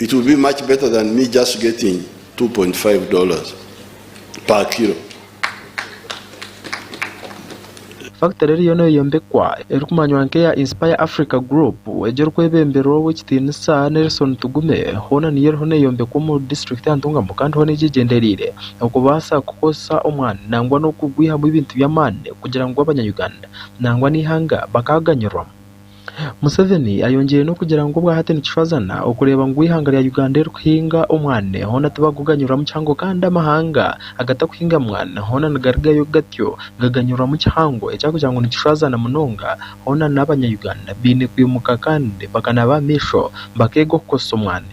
It will be much better than me just getting 2.5 dollars per kilo. Fakitare eriyo neeyombekwa erikumanywa nk'eya Inspire Africa Group egi erikwebemberwa ow'ekitiinisa Nelson Tugume hoona niyo eriho neeyombekwa omuri disiturikiti ya Ntungamo kandi hoona egi egyendereire okubaasa kukoresa omwani nangwa n'okugwihamu ebintu by'amaani kugira ngu abanya-Uganda nangwa n'eihanga bakaganyirwa. Museveni ayongyire n'okugira ngu obwahati nikishwazana okureeba ngu eihanga rya Uganda erikuhinga omwani hoona tibakuguganyurwamu kihango kandi amahanga agatakuhinga mwani hoona nigarigayo gatyo gaganyurwamu kihango ekyakugira ngu nikishwazana munonga hoona n'abanya Uganda baine kwimuka kandi bakanaaba aha maisho bakeega okukozesa omwani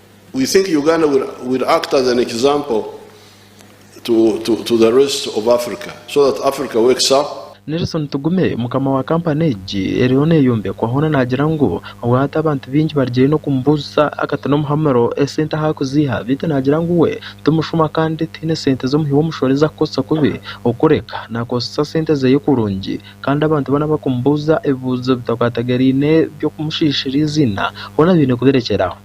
We think Uganda will will act as an example to to to the rest of Africa so that Africa wakes up. Nelson Tugume, mukama wa kampani egi eriho neeyombekwa hoona naagira ngu obwo hati abantu baingi barugire n'okumubuuzisa akati n'omuhamuro esente ahu arikuziiha beitu naagira ngu we ti mushuma kandi tihaine sente z'omuhi w'omushoro ezi arikukozesa kubi okureka naakozesa sente zeye kurungi kandi abantu boona abakumubuuza ebibuuzo bitakwatageraine by'okumushiishira eiziina hoona baine kubirekyera aho.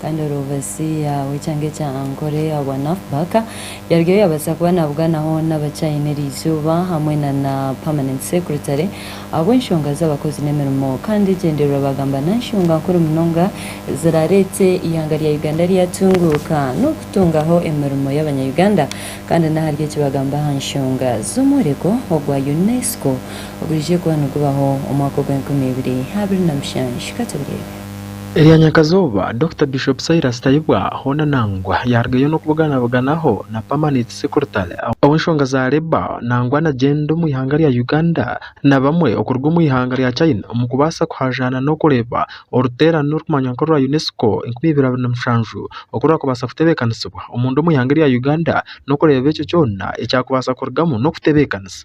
Kandi orobasi yaawe cyangwa ekya ankore ahabwa Nuff Buck yarugayo yabaasa kuba nabuganaho naba China eri izooba hamwe na na Permanent Secretary ahabw'enshonga z'abakozi n'emirimo kandi egyendererwa bagamba nanshonga nkuru munonga ezirareete ihanga rya Uganda ryatunguuka n'okutungaho emirimo y'abanya Uganda kandi nahari eki bagamba aha nshonga z'omworeko ogwa UNESCO oguriije kuba nigubaho omwaka ogw'enkumi ibiri abiri na mushanju katubireebe. Erya nyakazooba, Dokita Bishop Silas Tayebwa hoona nangwa yaarugayo n'okubuganabuganaho na Permanent Secretary ow'enshonga za Labour nangwa na gyenda omu ihanga rya Uganda na bamwe okuruga omu ihanga rya China omu kubaasa kuhajaana n'okureeba oruteerane orukumanywa nk'orwa UNESCO enkumi ibiri abiri na mushanju oku rwakubaasa kutebeekanisibwa omunda omu ihanga erya Uganda n'okureeba ekyo kyona ekyakubaasa kurugamu n'okutebeekanisa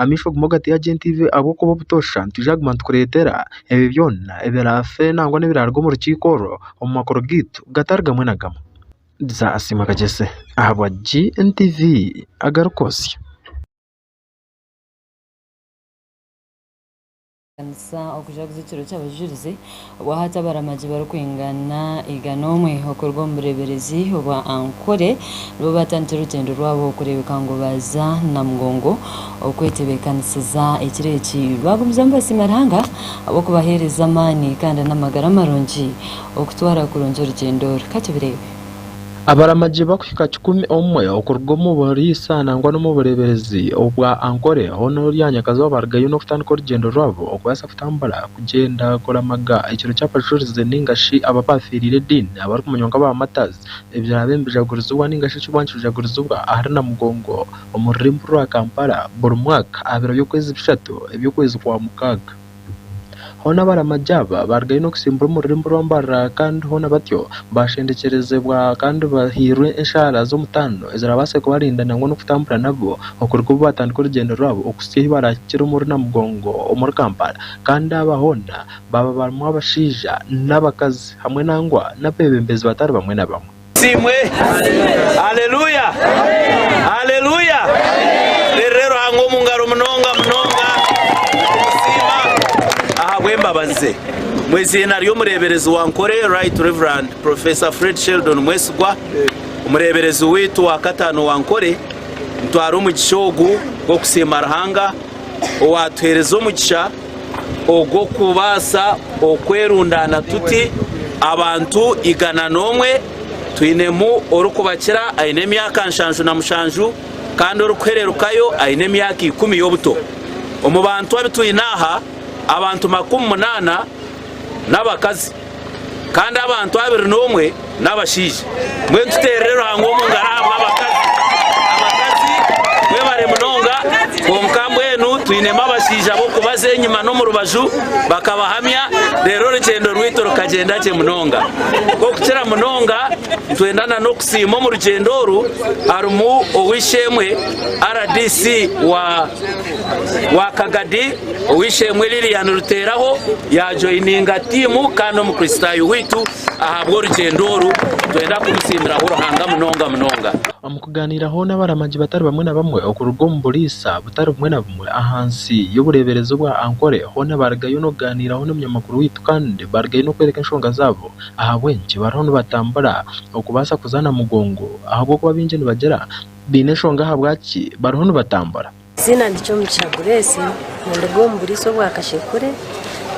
amaisho obumwe ogateire gye ntaihi ahabw'okuba obutoosha nitwija kuguma nitukureetera ebyo byona ebiraafe nangwa n'ebiraaruga omu rukiiko orwo omu makuru gaitu gatari gamwe na gamwe. Riza asiimwe akagyese ahabwa GNTV agarikwotsya. Kutebeekanisa okujaguza ekiro ky'Abajurizi obwa hati abaramagi barikwingana igana omwe okuruga omu bureeberezi obwa Ankole nibo baatandikire orugyendo rwabo kureebeka ngu baaza Namugongo okwetebeekanisiza ekiro eki. Baagumizamu nibasiima Ruhanga ahabw'okubaheereza amaani kandi n'amagara marungi okutwara kurungi orugyendo oru. Ka tubireebe. Abaramagi bakuhika kikumi omwe okuruga omu buriisa nangwa n'omu bureeberezi obwa Ankole hoona ori aha nyakazooba barugayo n'okutandika orugyendo rwabo okubaasa kutambura kugyenda kuramaga ekiro ky'abajurizi nainga shi abo abaafeereire ediini abarikumanywa nka ba Martyrs ebiraabe nibijagurizibwa nainga shi ekiriba nikijagurizibwa ahari Namugongo omu rurembo rwa Kampala buri mwaka aha biro by'okwezi bishatu eby'okwezi kwa mukaaga. Hoona abaramagi aba baarugayo n'okutsimbura omu rurimi rw'ambarira kandi hoona batyo baashendekyerezeebwa kandi bahairwe enshaara z'omutaano eziraabaase kubarinda nangwa n'okutambura nabo okuruga obu baatandika orugyendo rwabo okuhitsya ahu baraahikire omuri Namugongo omuri Kampala kandi aba hoona baaba barimu abashaija n'abakazi hamwe nangwa n'abeebembezi batari bamwe na bamwe. Asiimwe. Aleluya! Aleluya! Teerere Ruhanga omu ngaro munonga munonga omusiima ahabw'embabazi ze. Mu eiziina ry'omureeberezi wa Ankole, Right Rev. Professor Fred Sheldon Mwesigwa, omureeberezi waitu wa kataano wa Ankole, nitwara omugisha ogu gw'okusiima Ruhanga owaatuheereza omugisha, ogw'okubaasa okwerundaana tuti abantu igana n'omwe, twinemu orikubakira aine emyaka nshanju na mushanju kandi orikuhererukayo aine emyaka ikumi y'obuto. Omu bantu abu twine aha, abantu makumi munaana n'abakazi. kandi abantu abiri n'omwe n'abashaija. Mbwenu tuteerere Ruhanga omu ngaro ahabw'abakazi. Abakazi mwebare munonga, kwonka mbwenu twinemu abashaija b'okubaza enyima n'omu rubaju bakabahamya, reero orugyendo rwaitu rukagyenda gye munonga. Nk'okukira munonga, nitwenda na n'okusiima omu rugyendo oru harimu ow'eishe-emwe, RDC wa Kagadi, Ow'eishe-emwe Lilian Ruteeraho yaajoininga tiimu kandi n'Omukristaayo waitu. Ahabw'orugyendo oru, nitwenda kumusiimiraho Ruhanga munonga munonga. Omu kugaaniiraho n'abaramagi batari bamwe na bamwe okuruga omu buriisa butari bumwe na bumwe ahansi y'obureeberezi bwa Ankole, hoona baarugayo n'okugaaniiraho n'omunyamakuru waitu kandi baarugayo n'okworeka enshonga zaabo ahabw'enki bariho nibatambura okubaasa kuzaana mugongo ahabw'okuba baingi nibagira baine enshonga ahabwaki bariho nibatambura. Eiziina ndi Kyomugisha Grace, ninduga omu buriisa obwa Kashekure,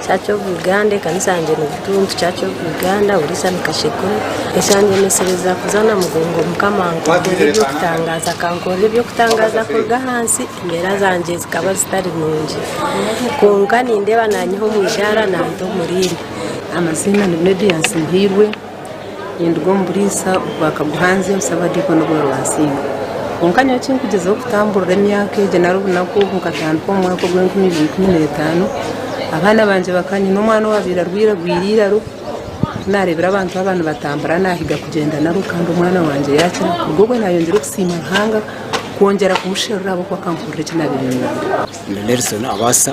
Church of Uganda, ekanisa yangye ni Butuntu Church of Uganda, buriisa ni Kashekure. Ekyandemesereza kuza na mugongo Mukama ankorere eby'okutangaaza, akankorera eby'okutangaaza kuruga ahansi, embeera zangye zikaba zitari nungi kwonka nindeeba nanyiha omu idaara nanta omuriindi. Amaziina ni Media Nsinhairwe. Ninduga omu buriisa bwa Kaguhanzi omu Sabadiikoni obwa Rwansinga. Kwonka nyowe eki nkugyezaho kutamburira emyaka egyo nari obunaku obu nkatandika omu mwaka gwa enkumi ibiri ikumi na etaano, abaana bangye baka, nyine omwana owaabaire arwaire agwire eiraro, ku naareebire abantu aba nibatambura naahiga kugyenda nabo kandi omwana wangye yaakira. Kuruga obwo naayongyera okusiima Ruhanga kwongyera kumusherura ahabw'okuba akampurira eki naabaire niinyenda. Ndi Nelson Abaasa.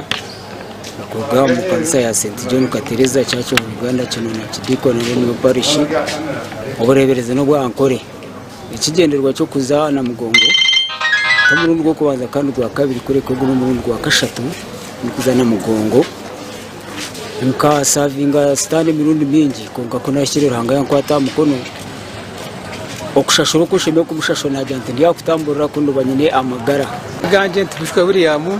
Nituruga omu kanisa ya St John Katereza Church of Uganda Kinuna Kidikoni Revenue Parish. Obureeberezi n'obwa Ankole. Ekigyendererwa ky'okuza aha Namugongo n'omurundi gw'okubanza kandi gwa kabiri kureka ogu n'omurundi gwa kashatu nikuza Namugongo. Nkasavinga sitaani emirundi mingi kwonka ku nahikire Ruhanga yankwata aha mukono. Okushashura oku nshemereire kumushashura naagira nti ndi aha kutamburira ku nduba nyine amagara. Gangye nti Bishop William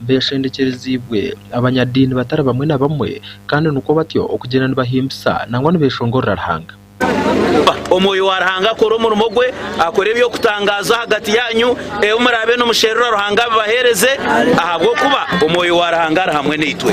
Beeshengyekyeriziibwe abanyadiini batari bamwe na bamwe, kandi nikwo batyo okugyenda nibahimbisa nangwa nibeeshongorera Ruhanga. Ba Omwoyo wa Ruhanga akore omurimo gwe, akore eby'okutangaaza ahagati yaanyu, ebi muraabe nimusherura Ruhanga abibaheereze, ahabw'okuba Omwoyo wa Ruhanga ari hamwe naitwe.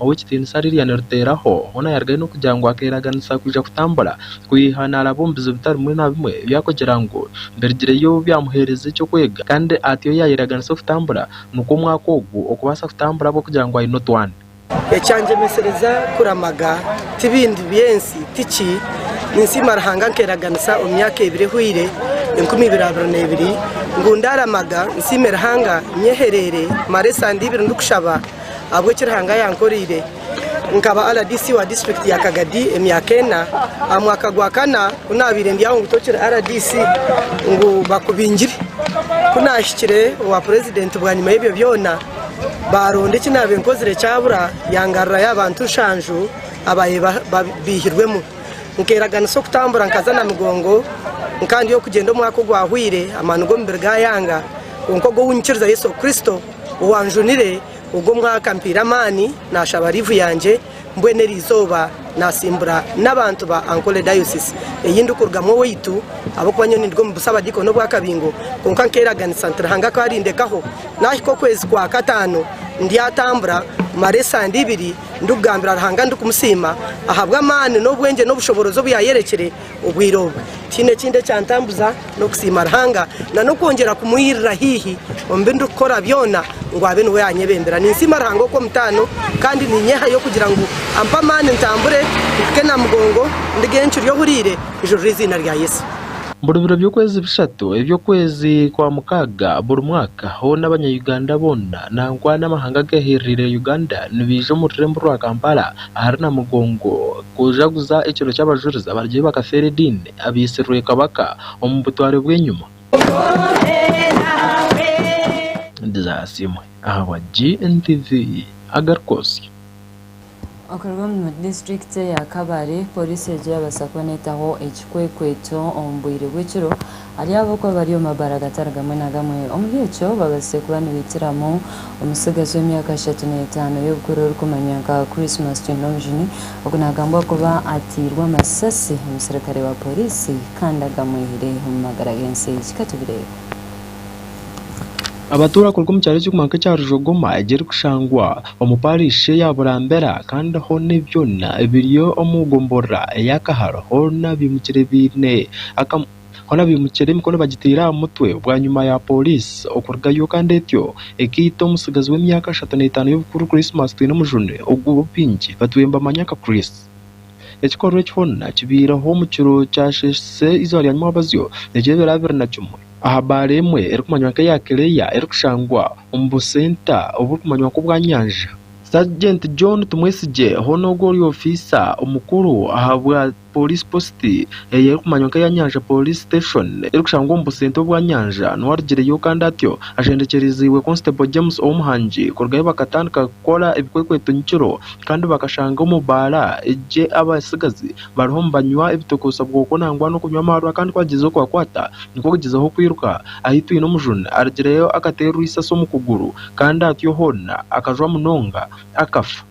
ow'ekitiinisa Lilian Ruteeraho, hoona yarugayo n'okugira ngu akeeraganisa kwija kutambura kwiha naaraba omu bizibu bitari bimwe na bimwe ebi arikugira ngu birugireyo byamuheereza eky'okwega kandi ati ou yaayeeraganisa okutambura nikwo omwaka ogu okubaasa kutambura ahabw'okugira ngu aine otwana. Ekyangyemesereza kuramaga ti bindi by'ensi ti ki, ninsiima Ruhanga nkeeraganisa omu myaka ebiri ehweire, enkumi ibiri abiri n'ebiri, ngu ndaaramaga nsiime Ruhanga nyehereire mare esande ibiri ndikushaba, Ahabw'eki Ruhanga yankoreire nkaba RDC wa disiturikiti ya Kagadi emyaka ena. Aha mwaka gwa kana ku naabaire ndi aho ngu tokiri RDC ngu bakubingire. Ku naahikire owa purezidenti bwanyima y'ebyo byona baaronda eki naabaire nkozire kyabura yangarurayo abantu nshanju abaabaire baihirwemu. Nkeraganisa okutambura nkaza na migongo nkandya okugyenda omwaka ogwahwaire amaani g'omubiri gaayanga kwonka ogwo ou nyikiriza Yesu Kristo. Owanjunire ogwo omwaka ampaire amaani nashaba liivu yangye mbwenu erizooba nasimbura n'abantu ba Ankole Diocese eyindikurugamu owaitu ahabw'okuba nyowe ninduga omu Busabadiikoni obwa Kabingo kwonka nkeraganisa nti Ruhanga akaba arindekaho nahika okwezi kwa kataano ndyatambura mare esande ibiri ndikugambira Ruhanga ndikumusiima ahabw'amaani n'obwengye n'obushoboorozi obuyayerekire Obwire obu tihaine ekindi ekyantambuza n'okusiima Ruhanga na n'okwongyera kumwirira haihi omu bi ndikukora byona ngu abe niwe anyebembera. Ninsiima Ruhanga Okw'omutaano kandi ninyehayo kugira ngu ampe amaani ntambure mpike na mugongo ndige encwi ry'ohuriire kujurira eiziina rya Yesu. Buri biro by'okwezi bishatu eby'okwezi kwa mukaaga buri mwaka, hoona Abanya-Uganda boona nangwa n'amahanga ageehereraire Uganda nibaija omu rurembo rwa Kampala Ahari Namugongo, kujaguza ekiro ky'Abajurizi abarugire bakafeera ediini abaitsirwe Kabaka omu butware bw'enyima. Ndizasiimwe ahabwa GNTV agaruka osyo. Okuruga omu disiturikiti eya Kabale, Poliisi egyo yabaasa kubona etaho ekikwekweto omu bwire bw'ekiro. Ari abo okuba bari omu mabara agatari gamwe na gamwe, omuri ekyo babazize kuba nibaitiramu omutsigazi w'emyaka ashatu n'etaano y'obukuru orikumanywa nka Christmas Chinonjini, ogu nagambwa kuba atairwe amasasi omusirikare wa poriisi kandi agamwihire omu magara g'ensi egi. Ka tubireebe. Abatuura kuruga omu kyaro ekirikumanywa nk'ekya Rujogoma egirikushangwa omu parishi eya Burambera kandi hoona ebi byona biri omu gomborora eya Kaharo hoona bimukire biine akamu. Hoona baimukire emikono bagiteire aha mutwe bwanyima ya pooriisi okurugayo kandi etyo ekaita omutsigazi w'emyaka ashatu n'etaano y'obukuru Christmas Twinomujuni ogu baingi batwire nibamanya nka Chris. Ekikorwa eki hoona kibaireho omu kiro kyasheesire eizooba rya nyimwabazyo n'ekiro ebiro abiri na kimwe aha baara emwe erikumanywa nka eya Kileeya erikushangwa omu busenta oburikumanywa nka obwa Nyanja. Sergeant John Tumwesigye hoona ogwo ori ofiisa omukuru aha bwa Police Post, ei erikumanywa nk'eya Nyanja Police Station, erikushangwa omu busentwa obwa Nyanja, niwe arugireyo kandi atyo ashembekyereiziibwe Constable James Owomuhangi kuruga ahi bakatandika kukora ebikwekweto nyekiro kandi bakashanga omu baara egi abatsigazi bariho nibanywa ebitokozesa bwoko nangwa n'okunywa amaarwa kandi ku agyeize kubakwata nikwo kugyezaho kwiruka. Ahitwine omujuni arugireyo akateerwa eisasi omu kuguru kandi atyo hoona akajwa munonga akafa.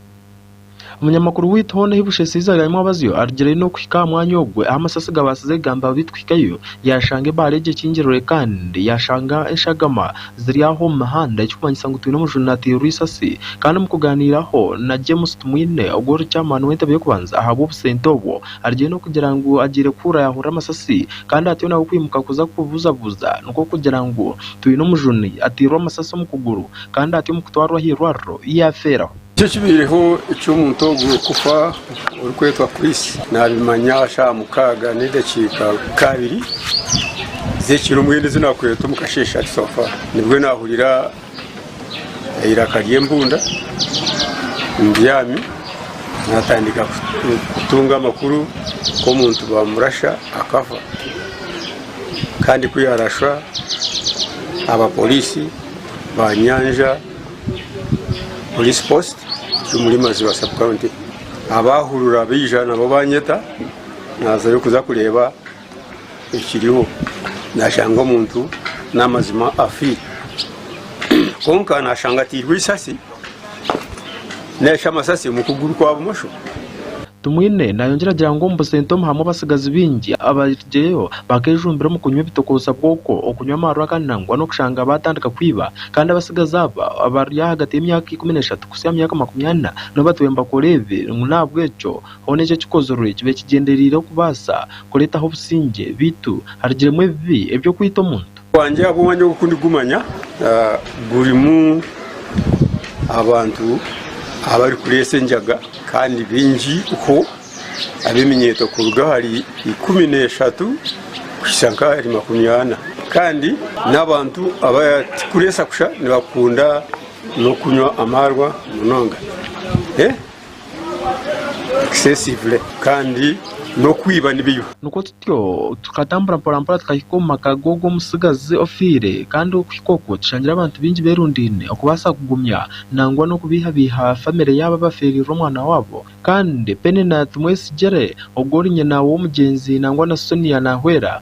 Omunyamakuru waitu hoona ahi bushesiize Raymond Abazyo arugireyo n'okuhika aha mwanya ogwo ahu amasasi gabaasize kugamba abaitu kuhikayo yaashanga ebaare egyo ekingirwe kandi yaashanga eshagama ziri aho omu mihanda ekirikumanyisa ngu twine omujuni nateerwa eisasi kandi omu kugaaniiraho na James Tumwine ogwo ori chairman w'entebe y'okubanza ahabw'obusente obwo arugireyo n'okugira ngu agiire kuhurira yaahurira amasasi kandi atyo nawe kwimuka kuza kubuzabuza nikwo kugira ngu twine omujuni ateirwe amasasi omu kuguru kandi atyo omu kutwarwa aha irwariro yaafeeraho. Tikibaireho eki omuntu ogwo w'okufa orikwetwa Chris naabimanya shaaha mukaaga n'edakiika nka abiri z'ekiro mbwenu ezi naakureetwa omu kasheeshe ati sofa nibwo naahurira eiraka ry'embunda mbyami naatandika kutunga amakuru ku omuntu baamurasha akafa kandi ku yaarashwa abaporiisi baanyanja Police post eri omuri Maziba sub county abahurura baija nabo banyeta nazayo kuza kureba ekiriho nashanga omuntu namazima afiire kwonka nashanga atirwe isasi narishi amasasi omukuguru kwa bumosho. Tumwine nayongyera agira ngu omu Busentomu harimu abatsigazi baingi abarigireyo bakejumbira omu kunywa ebitokootsa bwoko, okunywa amarwaga nangwa n'okushanga batandika kwiba. Kandi abatsigazi aba abari ahagati y'emyaka ikumi n'eshatu kuhitsya aha myaka makumi ana nibo batwaire nibakora ebi. Ngu n'ahabw'ekyo hoona eki ekikozirwe kibe kigyendereire okubaasa kureetaho obusingye, beitu harugiremu ebibi eby'okwita omuntu. Bwangye ahabw'omwanya ogu ku ndigumanya gurimu abantu abarikureetsa enjaga kandi baingi ho ab'eminyeeto kuruga ahari ikumi n'eshatu kuhitsya nk'ahari makumi ana. Kandi n'abantu abarikureetsa kusha nibakunda n'okunywa amaarwa munonga. ekisesibure kandi n'okwiba nibyo. Nikwo tutyo tukatambura mporampora tukahika omu maka g'ogwo omutsigazi ofiire, kandi okuhika okwo tushangire abantu baingi berundaine okubaasa kugumya nangwa n'okubeihabeiha famire yaabo abafeereirwe omwana waabo. Kandi Penina timwetsigire, ogwo ori nyina w'omugyenzi nangwa na Sonia naahwera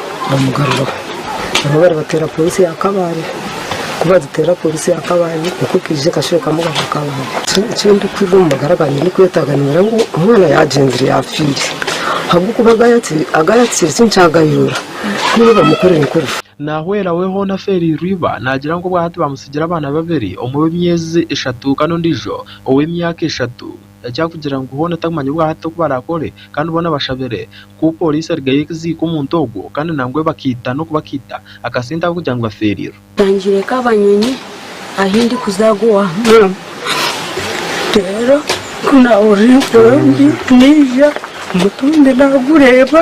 bamugaruraho nabwo baribateera polisi ya kabale ku bagiteera polisi ya kabale nikwo ekaija ekashwekamu abana ba kabale ekindikwirwe omu magara gangye ndikwetaaga nigira ngu omwana yagyenzire yafiire ahabw'okuba aga yatsiire tinkyagayerora ku iwe bamukorere nikwo orifa. Naahwera we hoona afeereirwe iba naagira ngu obwahati bamutsigira abaana babiri omwe ow'emyezi eshatu kandi ondiijo ow'emyaka eshatu. ekyakugira ngu hoona takumanya obu hati oku barakore kandi boona bashabire ku Poliisi erigayo eziike omuntu ogwo kandi nangwa ebakaita n'oku bakaita akasente ahabw'okugira ngu bafeerirwe. Nangire ka banyonyi ahi ndikuza ago wa maama. Reero ku naahurira empurundi naija omutumbi naagureeba.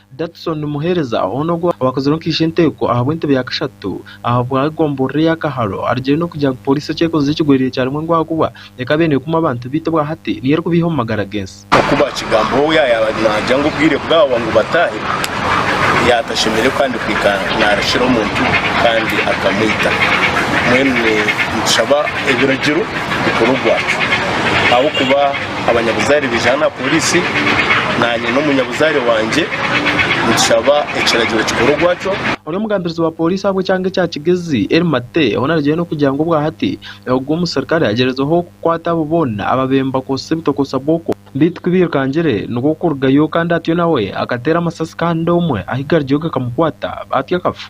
Datson Muhereza, hoona ogwo abakozireho nkaisha enteeko ahabw'entebe ya kashatu ahabwa egomborora eya Kaharo, arugire n'okugira ngu Poliisi ekyekozize ekigwerire ekyarimwe engo ahakuba ekaba eye nekuma abantu beitu bwahati niyo erikubeiha omu magara gensi. Nkoku bakigambaho we yayaba nagya ngu obwire bwawa ngu batahe yatashemereire kandi kwikara narakira omuntu kandi akamwita, mbwenu nitushaba ebiragiro bikorwe ogwaki ahabw'okuba. abanyabuzaare baijaana aha poriisi naanye n'omunyabuzaare wangye nitushaba ekiragiro kikore ogwakyo. Ori omugambirizi wa poriisi aha bw'ekyanga ekya Kigezi, Elly Mate, hoona arigyeyo n'okugira ngu obwa hati ogwo omuserukare agyerizehwo kukwata abo boona abaabaire nibakozesa ebitokosa bwoko. Beitu ku bairukangire nikwo kurugayo kandi atyo nawe akateera amasasi kandi omwe ahu gariyo gakamukwata atyo akafa.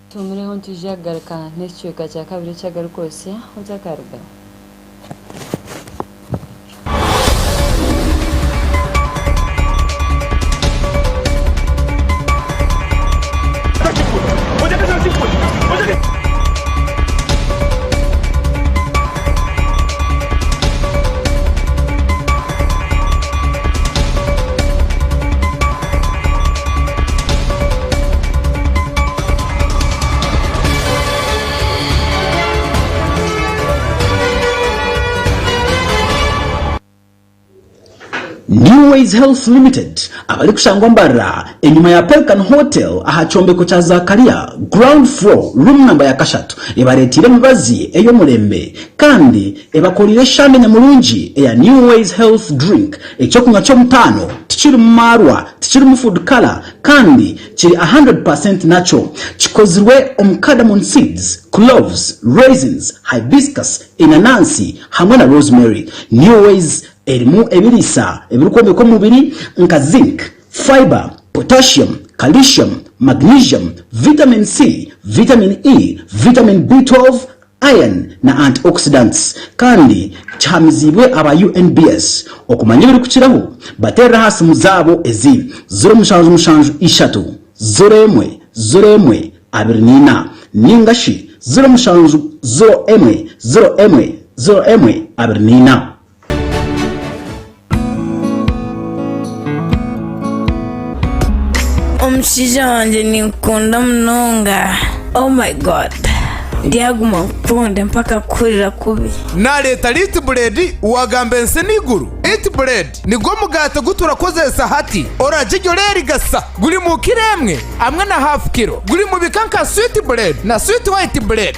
Tumireho nitwija kugaruka n'ekicweka kya kabiri eki agarikwotsya oti akaruga. New Ways Health Limited abarikushangwa mbarara enyima ya Pelican Hotel aha kyombeko kya Zakaria ground floor room namba ya kashatu ebareeteire emibazi ey'omurembe kandi Ebakoreire eshande nyamurungi eya New Ways Health Drink, eky'okunywa ky'omutaano, tikirimu maarwa, tikirimu food colour kandi kiri a hundred per cent natural. Kikozirwe omu cardamom seeds, cloves, raisins, hibiscus, enanansi hamwe na rosemary. New Ways erimu ebiriisa ebirikwombeka omubiri nka zinc, fibre, potassium, calcium, magnesium, vitamin C, vitamin E, vitamin B twelve, iron na antioxidants, kandi kihamiziibwe aba UNBS okumanya ebirikukiraho bateerere aha simu zaabo ezi, ziro mushanju mushanju ishatu ziro emwe ziro emwe abiri na ina nainga shi ziro mushanju ziro emwe ziro emwe ziro emwe abiri na ina. omushaija wangye ninkukunda munonga oh my god ndyaguma nkukunde mpaka kuhurira kubi Nareeta Light Bread wagamba ensi n'eiguru. Light Bread nigwo omugaati ogu turakozeesa hati. Orarya gye oreerigasa. Guri mu kiro emwe hamwe na haafu kiro. Guri mu bika nka Sweet Bread na Sweet White Bread.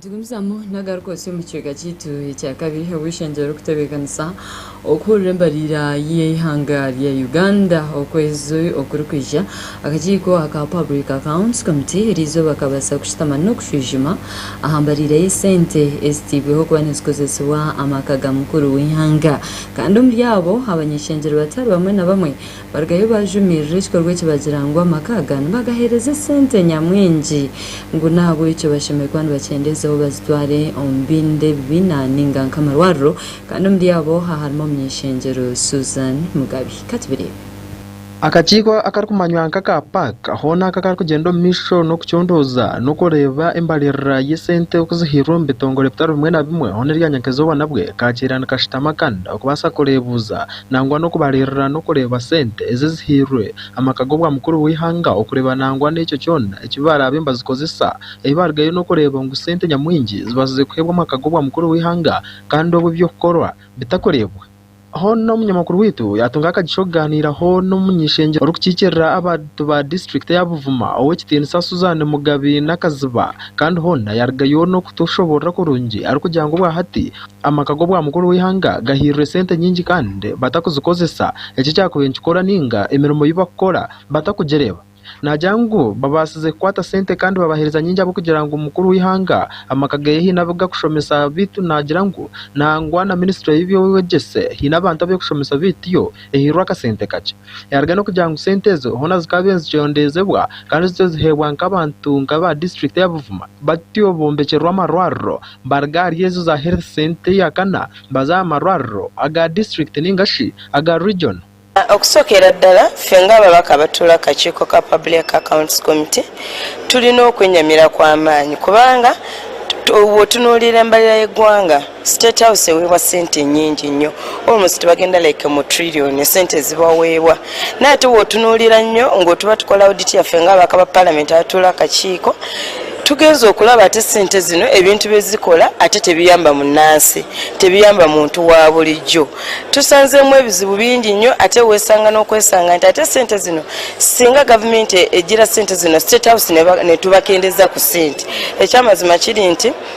Tugumizamu nagaruka otsi omu kicweka kyaitu ekyakabiri ahu eishengyero ririkutebeekanisa okuhurira embariira y'eihanga rya Uganda okwezi okurikwija. Akakiiko aka Public Accounts Committee eri izooba kabaasa kushutama n'okushwijuma aha mbariira y'esente ezitairweho kuba nizikozesibwa amaka ga mukuru w'eihanga. Kandi omuri abo abanyeshengyero batari bamwe na bamwe Barugayo baajumirira ekikorwa eki bagira ngu amaka aga nibagaheereza esente nyamwingi ngu n'ahabw'ekyo bashemereire kuba nibakyendeezaho bazitware omu bindi ebibiina nainga nk'amarwariro kandi omuri abo haharimu omuny'eshengyero Susan Mugabi. Ka tubireebe. Akakiiko akarikumanywa nk'aka PAC hoona aka karikugyenda omu maisho n'okucondooza n'okureeba embariirira y'esente oku zihairwe omu bitongore bitari bimwe na bimwe hoona erya nyakezoba nabwe kaakiira nikashutama kandi okubaasa kureebuuza nangwa n'okubariirira n'okureeba sente ezi ezihairwe amaka g'obwamukuru bw'eihanga okureeba nangwa n'ekyo kyona eki baaraabe nibazikozesa, ahi baarugayo n'okureeba ngu sente nyamwingi zibaasize kuheebwa amaka g'obwamukuru bw'eihanga kandi obu eby'okukorwa bitakureebwa. Hoona omunyamakuru waitu yaatunga akagisha okugaaniiraho n'omuny'eishengyero orikukiikirira abantu ba disiturikiti ya Buvuma ow'ekitiinisa Suzan Mugabi Nakaziba kandi hoona yaarugayo n'okutushoboorora kurungi arikugira ngu obwahati, Amaka g'obwa mukuru w'eihanga gahairwe sente nyingi kandi batakuzikozesa eki ekyakubaire nikikora nainga emirimo ei bakukora batakugireba. Naagira ngu babaasize kukwata sente kandi babaheereza nyingi ahabw'okugira ngu omukuru w'eihanga amaka ge haine abu gakushomesa beitu naagira ngu nangwa na minisitule y'eby'obwegyese haine abantu abu erikushomesa beitu yo ehairwe akasente kakye. Yaruga n'okugira ngu sente ezo hoona zikaabaire nizikyondeezebwa kandi zityo ziheebwa nk'abantu nk'aba district ya Buvuma batyo bombekyerwa amarwariro. Baruga ahari ezo za Health Centre eya kana baza aha marwariro aga District ninga shi aga Region. Okusookera ddala, ffe ng'ababaka abatuura aha kakiiko ka Public Accounts Committee tulina okwenyamira kw'amaani kubanga bw'otunuuriire embalirira y'eggwanga, State House eweebwa ssente nyingi nnyo, almost bagenda like mu trillion esente ezi baweebwa. Naye ate bw'otunuurira nnyo ng'otuba tukola audit yaffe ng'ababaka ba Parliament abatuura aha kakiiko, Tugenze okuraba ati esente zinu ebintu byezikora ati tebiyamba munansi, tebiyamba muntu wabulijo. Tusanzemu ebizibu bingi nyo ati wesanga nokwesanga nti ati esente zinu singa gavumenti egira sente zinu state house netubakendeza ku sente. Ekyamazima kiri nti.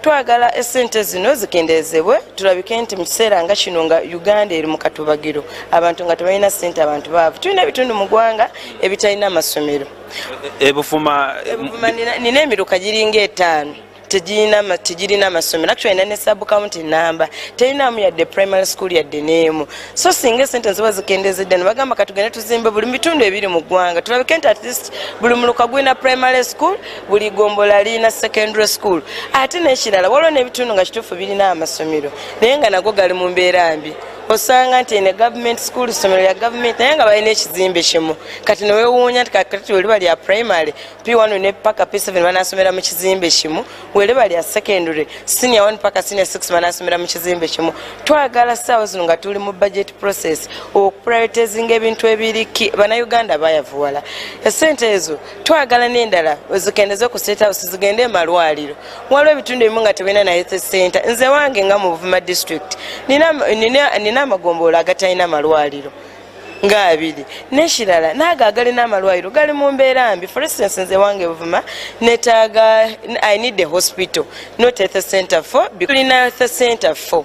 Twagala esente zino zikendeezebwe, turabike nti mu kiseera nga kino nga Uganda eri mu katubagiro, abantu nga tibalina sente abantu baavu. Twine ebitundu mu gwanga ebitalina amasomero. Ebufuma nina emiruka giri nga etaano tigirina amasomero actually nina ne sub county namba terinamu yadde primary school yadde n'emu so singa esente niziba zikendeezedde nibagamba katugende tuzimbe buri mu bitundu ebiri mu gwanga turabike nti atleast buri muruka gwine primary school. Buri igombolola riine secondary school ate nekirala waliwo nebitundu nga kituufu birina aha masomero naye nga nago gari mumbeera mbi osanga nti eine government school isomero rya government naye nga balina ekizimbe kimwe kati newewuunya nti kakati rweriba rya primary P1 paka P7 banasomera mukizimbe kimwe rweriba rya secondary senior 1 paka senior 6 banasomera mukizimbe kimwe twagala saawa zinu nga turi mu budget process oku prioritizinga ebintu ebiri key banauganda bayavuwala esente ezo. Twagala n'endala ozikende z'oku state house zigende omu malwariro. Waliwo ebitundu ebimwe nga tibirina na health centre. Nze ewange nga omu Buvuma district nina nina nina amagomboora agatarina malwariro nga abiri. N'ekirala n'ago agarina amalwariro gari mu mbeera mbi. For instance nze ewange Buvuma netaaga I need a hospital not health centre for bi turina health centre for.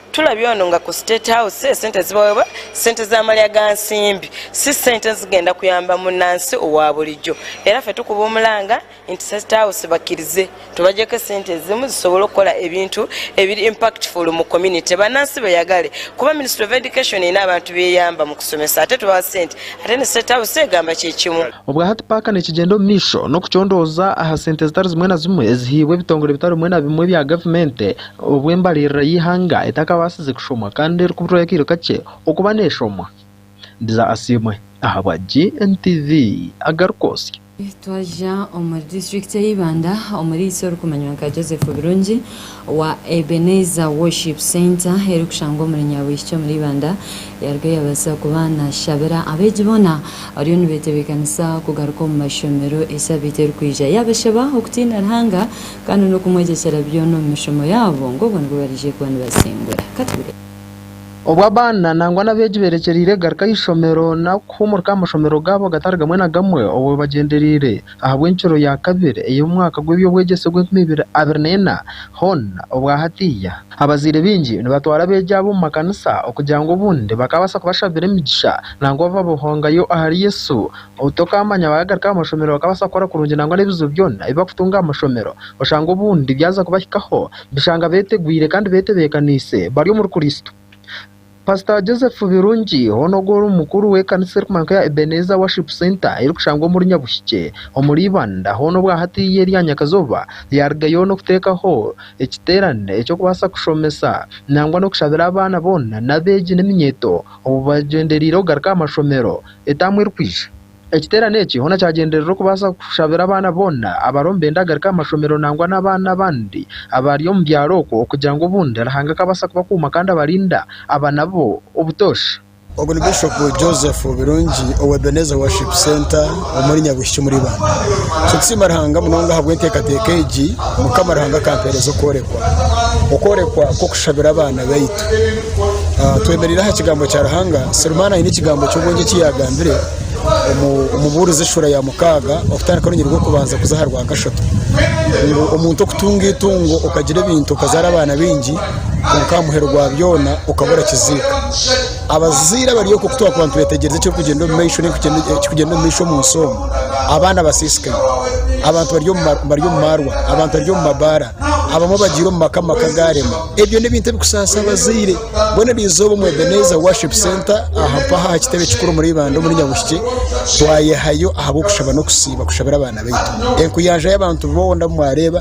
Tulabye onu nga ku State House esente zibaweebwa sente za malya ga nsimbi si sente ezigenda kuyamba munansi owa bulijo era fe tukuba omulanga inti State House bakirize tubagyeko esente ezimu zisobole okukora ebintu ebiri impactful mu community banansi beyagale kuba Ministry of Education eyine abantu beyamba mu kusomesa ate tubaha sente ate ne State House egamba kye kimu. Obwa hati paaka nikigyenda omu maisho n'okucondooza aha sente zitari zimwe na zimwe ezihaibwe ebitongore bitari bimwe na bimwe bya gavumente. Obu embaririra y'eihanga etakabaasize kushomwa kandi erikuburwayo akaire kakye okuba neeshomwa, Ndiza Asiimwe ahabwa GNTV agarikwotsya. Twaza omuri disiturikiti ya Ibanda omuri itsi orikumanywa nka Joseph Birungi wa Ebenezer Worship Centre erikushangwa omuri Nyabwishiki omuri Ibanda yaruga yabaasa kuba nashabira abeegi boona abariyo nibetebekanisa kugaruka omu mashomero esabiiti erikwija. Yabashaba okutiina Ruhanga Kandi n'okumwegyekyera byona omu mishomo yaabo, ngu obwo nibwo bariije kuba nibasingura. Ka tureebe. Obu abaana nangwa n'abeegi beerekyereire kugaruka aha ishomero nari kuhuumurika aha mashomero gaabo gatari gamwe na gamwe obwo bagyendereire ahabw'encuro ya kabiri ey'omwaka gw'eby'obwegyese ogw'enkumi ibiri abiri na ena, Hon. Obwa hatiiya, abazaire baingi nibatwara abeegi abo omu makanisa okugira ngu obundi bakaabaasa kubashabira emigisha nangwa bababohongayo ahari Yesu Obu tokaamanya waagaruka aha mashomero okabaasa kukora kurungi nangwa n'ebizibu byona ebi bakutunga aha mashomero oshanga obundi byaza kubahikaho bishanga beetegwire kandi beetebeekaniise bari omuri Kristo. Pasita Joseph Birungi hoona ogwo ori omukuru w'ekanisa erikumankwa eya Ebenezer Worship Centre erikushangwa omuri Nyabuhikye omuri Ibanda hoona obwa hati ei eri aha nyakazooba ya Riga yoona okuteekaho ekiteerane eky'okubaasa kushomesa nangwa n'okushabira abaana boona n'abeegi n'eminyeeto obu bagyendereire okugaruka aha mashomero etaamu erikwija. Ekiteerane eki hoona kyagyenderera okubaasa kushabira abaana boona abariho nibenda kugaruka aha mashomero nangwa n'abaana abandi abari omu byaro okwo okugira ngu obundi Ruhanga akabaasa kubakuuma kandi abarinda aba nabo obutoosha. Ogu ni Bishop Joseph Birungi owa Ebenezer Worship Centre omuri Nyabwishiki omuri Ibanda. Nitusiima Ruhanga munonga ahabw'enteekateeka egi Mukama Ruhanga akampeereza okworekwa, okworekwa kw'okushabira abaana baitu. Twemereire aha kigambo kya Ruhanga. Serumaana aine ekigambo ky'obwengye eki yaagambire omu Omubuurizi eshuura ya mukaaga okutandika orunyiriri rw'okubanza kuza aha rwakashatu ngu omuntu okutunga eitungo okagira ebintu okazaara abaana baingi kwonka aha muheru gwa byona okaba orakiziika. Abazaire abari oku twakuba nitwetegyereza ekirikugyenda omu maisho nari ekirikugyenda omu maisho omu nsi omu, abaana batsiitsikaire, abantu bari omu maarwa, abantu bari omu mabaara, abamwe bagiire omu maka, amaka gaarema. Ebyo n'ebintu ebikusaasa abazaire mbwenu erizooba omu Ebenezer Worship Centre aha mpaha aha kitebe kikuru omuri Ibanda omuri Nyabushikye twayehayo ahabw'okushaba n'okusiiba kushabira abaana baitu enkuyanja y'abantu boona abu mwareeba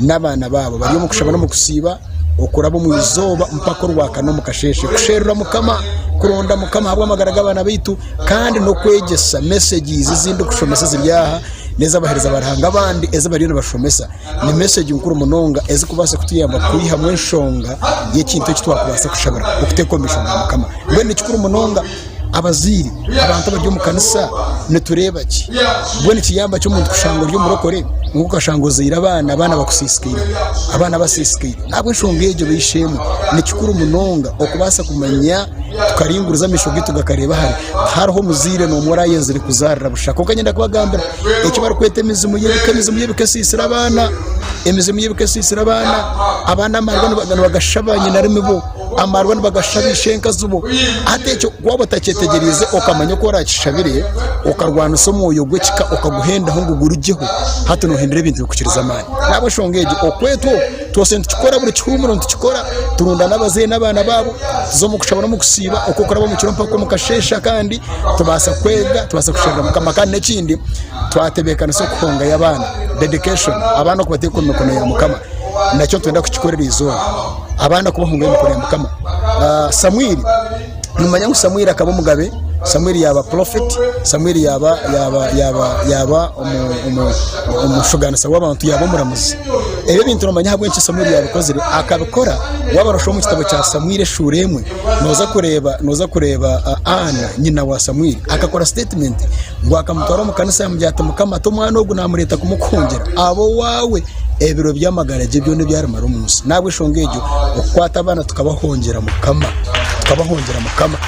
n'abaana baabo bari omu kushaba n'omu kusiiba okuraba omu izooba mpaka orwakana omu kasheeshe kusherura mukama kuronda mukama ahabw'amagara g'abaana baitu kandi n'okwegyesa messages ezindikushomesa eziri aha n'ez'abaheereza ba Ruhanga abandi ezi bariyo nibashomesa ni message nkuru munonga ezikubaasa kutuyamba kwihamu enshonga y'ekintu eki twakubaasa kushabira okuteeka omu maisho ga mukama mbwenu ni kikuru munonga abazaire abantu abari omu kanisa nitureeba ki mbwenu nikiyamba ki omuntu kushanga ori omurokore ngu okashanga ozaire abaana abaana bakusiisikaire abaana basiisikaire ahabw'enshonga egyo baishe-emwe ni kikuru munonga okubaasa kumanya tukaringuriza amaisho gaitu gakareeba hare hariho omuzaire noomwe orayenzire kuzaarira busha kwonka niinyenda kubagambira eki barikweta emizimu y'ebika emizimu y'ebika esisire abaana emizimu y'ebika esisire abaana abaana amarwa nibagasha banyinarumi bo amarwa nibagasha bishenkazi bo hati ekyo waaba otakyetegyereize okamanya oku orakishabire okarwanisa omwoyo gw'ekika okaguhendaho ngu gurugyeho hati nohindura ebintu bikukiriza amaani nahabw'enshonga egyo okwetwo Twoshe nitukikora, buri kihuumuro nitukikora, turunda n'abazaire n'abaana baabo, tuza omu kushaba n'omu kusiiba, okw'okuraba omu kiro mpaka omu kasheeshe akandi, tubaasa kwega, tubaasa kusherura Mukama kandi n'ekindi twatebeekanisa okuhongayo abaana, dedication, abaana okubateeka omu mikono ya Mukama, nakyo nitwenda kukikorera eizooba, abaana kubahongayo omu mikono ya Mukama. Samwiri. nimumanya ngu Samueli akaba omugabe, Samueli yaaba prophet, Samueli yaaba yaaba yaaba yaaba omu- omu- omushuganisa w'abantu yaaba omuramuzi. Ebyo ebintu nomanya ahabw'enki Samueli yabikozire, akabikora waaba noshoma omu kitabo kya Samueli eshuura emwe noza kureeba noza kureeba ah, Anna nyina wa Samueli akakora statement ngu akamutwara omu kanisa yamugira ati Mukama ti omwana ogu namureeta kumukuhungira abe owaawe. Ebiro by'amagara gye byona ebi arimara omu nsi. N'ahabw'enshonga egyo, okukwata abaana tukabahongyera Mukama, tukabahongyera Mukama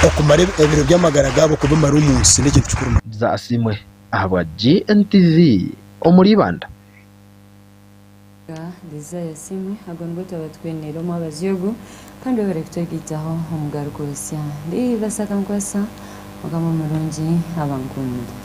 okumara ebiro by'amagara gaabo kubimara omu nsi n'ekintu kikuru munonga. Zaasiimwe ahabwa GNTV omuri Ibanda. Nga Desire Asiimwe, Ago nigo twaba twine. Reero omwabazi ogu. Kandi waaba ori kutegyitaho omugaruka osya ndi basa ka nkwasa mukama murungi aba ankundire.